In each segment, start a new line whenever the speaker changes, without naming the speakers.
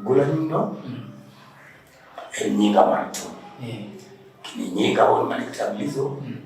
Gula
nyinga. Mm. Eh, nyinga watu. Eh. Kini nyinga wao mani kitablizo. Mm.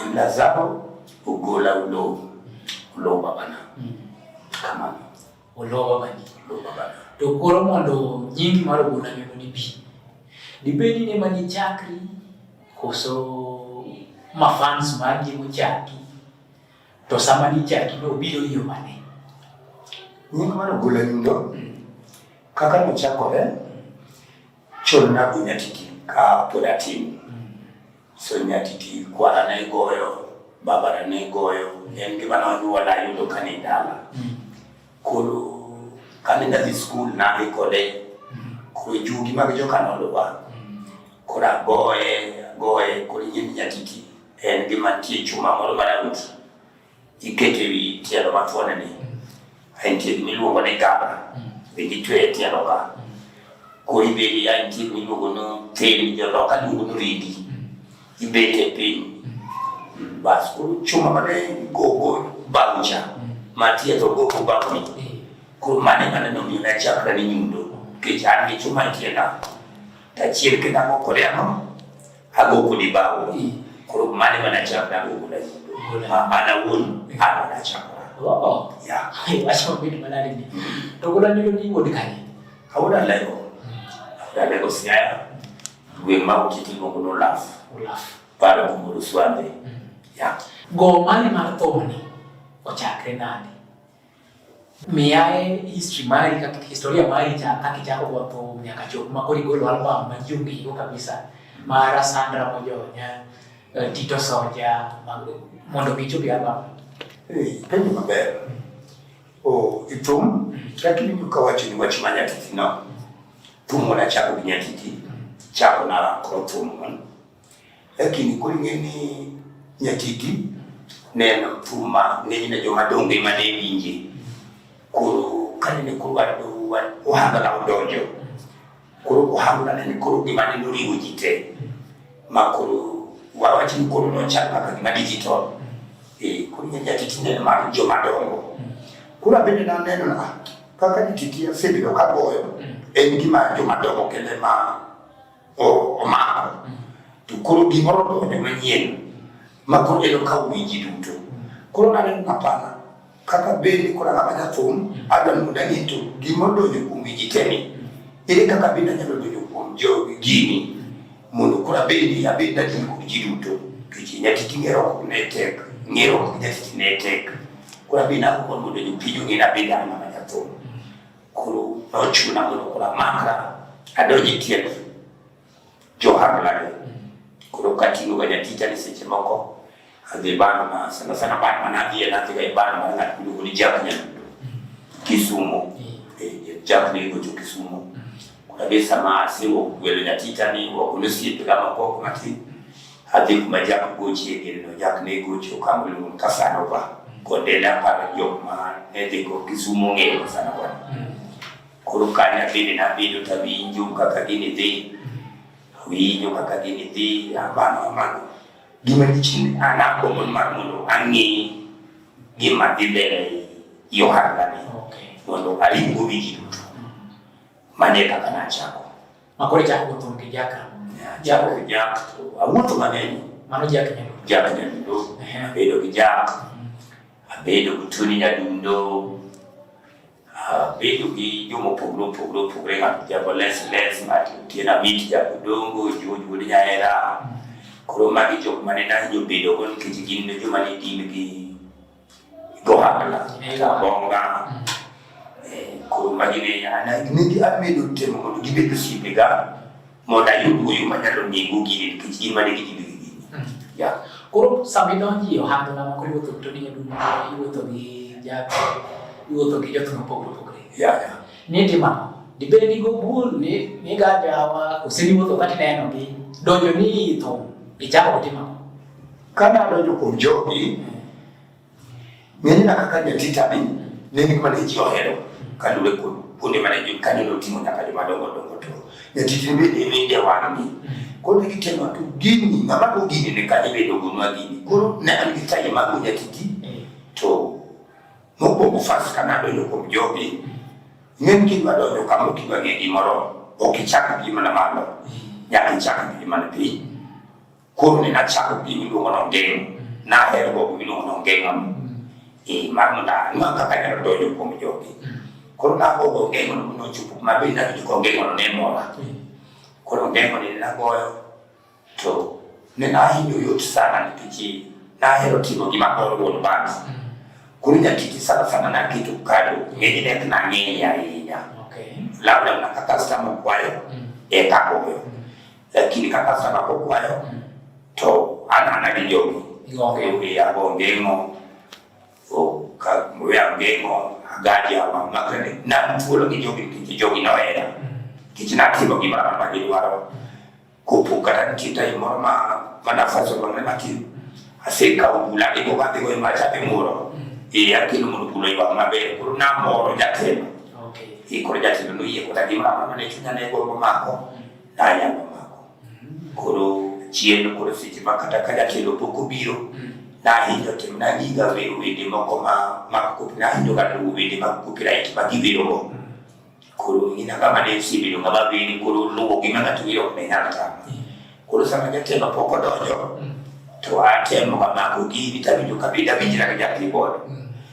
Eh, Lazaro ugola ulo. Mm. Ulo babana. Mm. Kama. Ulo
babani. Ulo babana. Dokoro mondo nyingi maro gula nyinga ni bi. Dibedi ni mani chakri. Koso mafans magi muchaki. To sama nichaki ne obiro yo mane?
Nying mano gula nyundo hmm. kaka nochakore chon na kunyatiki ka pod atin hmm. so nyatiti kwara ne goyo babara ne goyo en gima nonyuola yudo ka ni dala hmm. koro kane nadhi skul nadhi kode koro jugi mag jokanolwa koro agoye agoye koro nying nyatiti En gi mantie chuma moro maraundi iketo e wi tielo mathuone ni entie gima iluongo ni gabra bende itweyo e tielo ka koro ibedi ya entie gima iluongo ni thil joloka luongo ni ridi ibet e piny bas koro chuma mane gogo baucha matietho gogo bauni koro mane mane nomiyo nachakra ni nyundo nikech an gi chuma e tienda tachiel kendo ago kode ang'o hago kudi bawo kuru mane mana chakna go kula ma mana won ha mana chakna oh ya
hai aso
bit mana
ni to kula ni ni wodi kani hawda lego
da lego siya we ma ukiti go no laf laf para kumuru swande ya go mane
mar thoni ochakre nani Miyae history mari kaka historia mari cha kaka chako kwa to nyaka chop ma kori golo album ma jungi hiyo kabisa. Mara Sandra Mojonya, eh, Tito Soja, mondo gicho bi album. Eh, penyo
maber. O itum kaka ni kwa wachi ni wachi manya titi no. Tumo na chako binyatiti. Chako na kwa tumo. Lakini koro ing'e ni nyatiti neno thum ma ng'enyne joma donge ma ne winje. Koro kanene koro wado ohangla odonjo, koro ohangla nene koro gima ne noriwo ji te ma koro wawach ni koro nochal kaka gima digital. Eh, koro ing'e nyatiti neno mar joma dongo. Koro abende naneno na kaka nyatiti asebedo kagoyo en gima joma dongo kende ma omako to koro gimoro donjo manyien ma koro eno ka winji duto koro naneno napana kaka bende koro ang'ama jathum adwa ni mondo ang'e to gima odonjo kuom winji teni ere kaka bende anyalo donjo kuom jogi gini mondo koro abedi abedi nadini kod ji duto kech nyatiti ng'ero ok ne tek ng'ero ok nyatiti ne tek koro abedi nago mondo jopiny ong'e nabedi ang'ama jathum kuru nochu na mondo kula maka adonji tiek johar lare kuro katingo ga nyatita ni seche moko adhi bano ma sana sana bano ma nadhi e nadhi ga e bano ma ng'at miluongo ni jak nyadundo kisumo eh, jak ni gocho kisumo kuna be sama asewuok gwelo nyatita ni wagolo osiepe ga moko matin Adhi kuma jak gochie girino, jak ne gocho kama oluong Kasanova. Konde ne aparo jok ma ne dhi go Kisumu ong'eyo Kasanova. Mm. Koro kanyo abende nabedo to awinjo kaka gini dhi, awinjo kaka gini dhi, amano amano. Gima dichni an agombo mar mondo ang'e gima dhi mbele i ohalani mondo aring go wigi duto. Mano e kaka nachako. Makore chako go
thum gi jaka. Chako gi jaka to awuotho
mang'eny. Mano jak nyadundo.
Jak nyadundo.
Abedo gi jak. Mm-hmm. Abedo gi tuni nyadundo. Abedo gi joma opogore opogore opogore ng'ato jago les les ng'ato tie na mit jago dongo juoj wuod nyahera. Mm-hmm. Koro magi jok mane nahinyo bedogo nikech gin joma ne gin gi Dohana, Bonga, Kurumagine, and maybe I made a demo to give it to Sipiga, Modayu, you might have to be Gugi, Kitty, Maniki. Yeah.
Koro sama idonjo e ohando na moko iwuotho to ni adundo, iwuotho gi jago, iwuotho gi jotho mopogore opogore. Yeah, yeah. Ni
timo
dibed ni gobul ni ni gajawa oseniwuotho kati neno gi donjo ni itho ichako timo Kane
adonjo kuom jogi, ng'eny na kaka jatita ni ne ni kuma ne ji ohero kaluwore kod kuonde mane ji kane noting'o nyaka joma dongo dongo to jatiti ni bende wende wang'ni koro ne gitemo to gini ng'ama to gini ne kane bedo gonwa gini koro ne an gi taye mag jatiti to mokwongo fas kane adonjo kuom jogi ng'eny kidwa donjo kama ok idwa ng'e gimoro ok ichak gi mana malo nyaka ichak gi mana piny Koro ne nachako gi miluongo no ngeng', nahero go miluongo no ngeng'o no. Eh, mar mondo ang'e kaka anyalo donjo kuom jogi. Koro nagogo ngeng'o no nochopo kuma be nawinjo ka ngeng'o no ne mora. Koro ngeng'o ni nagoyo to ne nahinyo yot sana nikech nahero timo gima koro wuon bana. Koro nyatiti sana sana naketo kado ng'eny ne ok nang'eyo ahinya. Okay. Labda na kaka customer kwayo, eka goyo. lakini kaka sana kwa kwa yo mm. to ana na bijogo ng'ombe ya ng'ombe ng'o o ka mwe ya ng'ombe ng'o agaji ya mama kene na mtuolo kijogo kijogo na wera kichina kibo kibara ma gidwaro kupuka tan kita imoro ma mana faso bang'e ma kiyo aseka obula ndi ko kadhi goyo macha dhi muro e akelo mondo kulo ywak maber koro namoro jatelo e koro jatelo noyie koda gi mama mane chunya ne gombo mako nanyalo mako. Koro chien koro seche ma kata ka jatelo pok obiro, mm. nahinyo tim nagiga wero wende moko ma mag kopi, nahinyo ga luwo wende mag copyright ma giwero go. Mm. Koro ina kama ne osebedo ng'ama beri koro luwo gima ng'ato wero ok ne nyal tama. Mm. Koro sama jatelo pok odonjo, to atemo ga mako gini tawinjo kabinda winjra gi ja keyboard.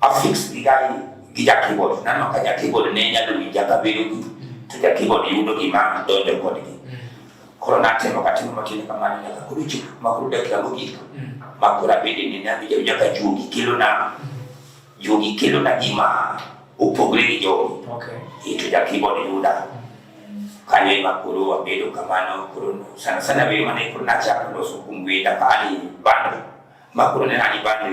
affix gigani gi ja keyboard nano ka ja keyboard ne nyalo winja ka bedo gi to ja keyboard yudo gima donjo kodgi koro natemo katimo matin kamano nyaka koro chop makoro dakika mogik makoro abede ni nawinja winja ka juogi kelona juogi kelona gima opogre gi jogi okay. to ja keyboard yuda kanyo ema koro wabedo kamano koro sana sana bedo mana koro nachako loso kumbwenda kani bando makoro ne nani bando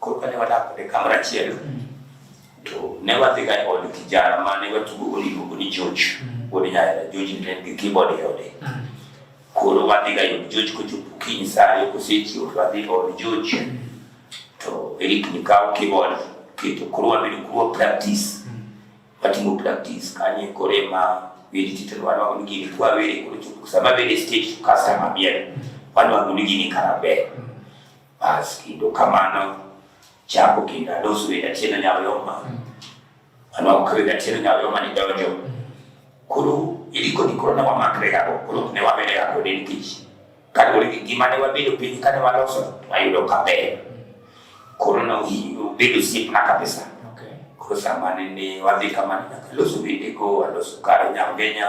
Koro kane wadak kode kamoro achiel, to ne wadhiga e od kijana ma ne watugogo niluongo ni George wuod Nyahera. George ne en gi keyboard e ode. Koro wadhiga e od George kochopo kiny sa ariyo kosechiew to wadhi e od George. To Eric ni kawo keyboard keto koro wabedo kuro practice. Watimo practice kanye koro ema wili titelo wana wangu nigini kwa wili kuro chopo. Sama bende stage customer miel. Wana wangu nigini karabe. Bas kendo kamano chako kendo adosu e jachien anyalo yoma. Ano ok re jachien anyalo yoma ni donjo. Koro iliko ni koro ne wamakre gago, koro ne wabede gago ne nikech kaluwore gi gima ne wabedo piny kane waloso wayudo kaber. Koro ne obedo osiepna kabisa. Koro sama nene wadhi kamano nyaka loso wendego, aloso kar Nyangenya,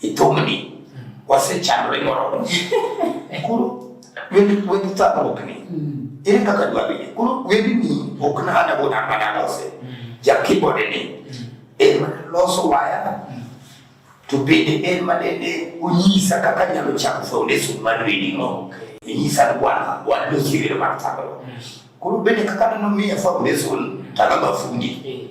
Ithumni wasechandore moromo. Koro wendi wendi thagruokni. Ere kaka dwa bede? Koro wendi ni ok nana go nana nana ose. Ja keyboard ni. En loso waya. To bende en manene onyisa kaka nyalo chako foundation mar reading. Okay. Inyisa kwanza walo sivile mar thagruok. Koro bende kaka nano miya foundation tagaba fundi.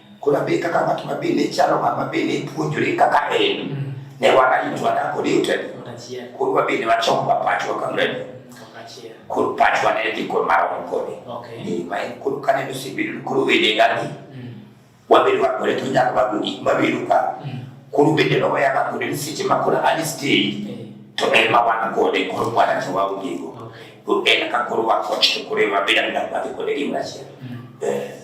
Kuna be kaka ng'at ma bende chalo ng'ama bende puonjore kaka en mm. ne warito adako ni utene koro wabende wachomo ba pachwa kamreni koro pachwa ne dhi kod mar onkoni ni ma en koro ka neno sibedo koro wede ngani mm. wabedo wakore to nyaka wago gik mabedo ka mm. koro bende loya ka kode ni seche ma koro ani stage eh. to en ma wan kode koro mwana to waongego to en ka koro wakoch to koro ema bedo ni dak wadhi kode gimoro achiel mm. eh.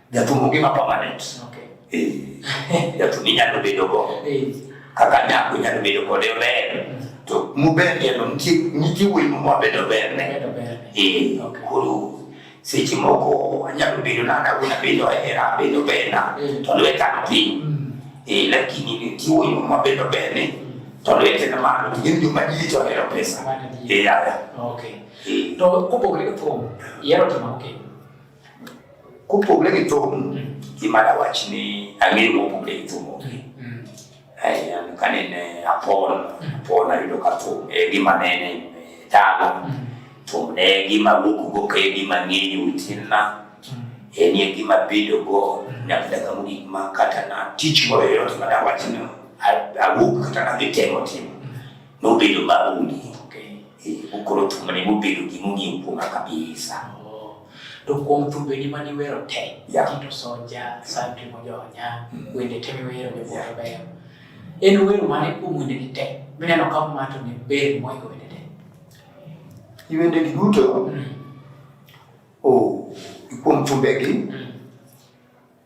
Jatumo gi ma permanent. Okay. Eh. Jatumo inyalo bedo go. Eh. Kaka nyako inyalo bedo kode ber. Mm. To muber yalo nitie nitie wuoyi ma wabedo ber ne. Eh. Koro seche moko anyalo bedo na na guna bedo era bedo ber na. Mm. To lweta no piny. Mm. Eh, lakini nitie wuoyi ma wabedo ber ne. To lwete na malo gin joma ji to hero pesa. Eh, yaya. Okay. Eh. To kopogore gi thum, yero to ma okay. Kopogore gi thum, gima dawach ni ang'eyo mopogore gi thum onge. Mm. Eh, ka nene apon, apon ayudo ka thum e eh, gima nene eh, talo. Mm. Thum ne gima wuok go ka e gima ng'eyo tinna. Mm. En ye gima bedo go nyaka daga mogik ma kata na tich moro yoyote ma dawach ni awuok kata nadhi temo timo. Nobedo maonge. Okoro thumbe ne mobedo gima ong'eyo kuoma kabisa. To kuom thumbeni ma niwero te, Tito Sonja, Santi Mojonya, mm. wende te miwero jo moro beyo. En wero mane kuom wende ni te, mineno ka mato ni ber moiko wende te. I wende gi duto, mm. oh, kuom thumbegi, mm.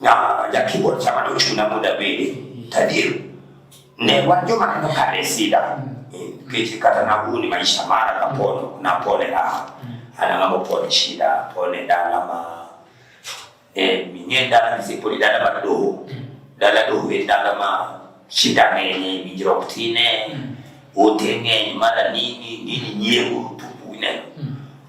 na yakiwa chama no chuna muda bende tadiru ne wajo maneno kare sida keche kata na huni maisha mara kapono na pole la ana ngamo pole shida pole dala ma e minye dala ni sepoli dala ma doho dala doho e dala ma shida ngene minjiro kutine utenge mara nini nini nyewu tupu ineno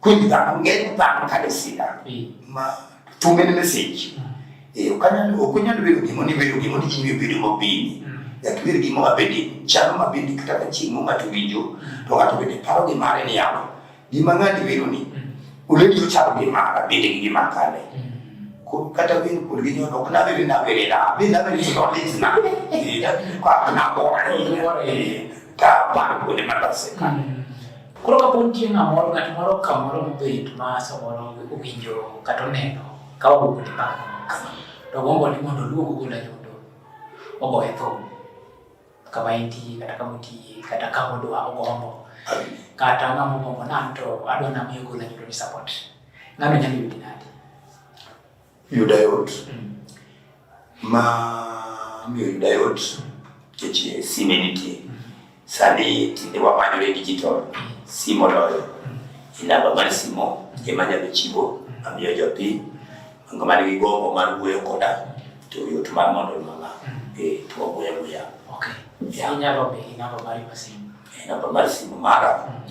kwidhana ng'eny dhano kane sida ma tume ne message eh ukanyalo okunyalo bedo gimo ni bedo gimo ni kinyo bedo mabini yakibiri gimo mabindi chano mabindi kata ka chingo ng'ato winjo to ng'ato bende paro gi mare ni yamo gima ng'ani bedo ni uledi uchalo gi mara bende gi gima kale kata bin kul gi nyono kana be na be na be na be ni no le na e da bi kwa na bo ai ta pa ko de ma ta se ka Koro ka pod
nitie ng'amoro ng'at moro kamoro mobet ma samoro owinjo kata oneno ka owuok ni paka to gombo ni mondo oluong ogol ayondo ogoye thum kama entie kata kama otiye kata kama odwa ogombo kata ng'ama ogombo nam to adwa namiyo ogol ayondo ni support ng'ano nyalo yudi nade
Yuda yot ma miyo yuda yot keche sime nitie sani tinde wamanyore digital simo loyo inamba mar simo ema nyalo chiwo amiyo jopiny ngo man gi gombo mar wuoyo koda to yot mar mondo mama e to wuoyo wuoya okay
yeah. inyalo be inamba mar simo inamba mar simo
mara mm.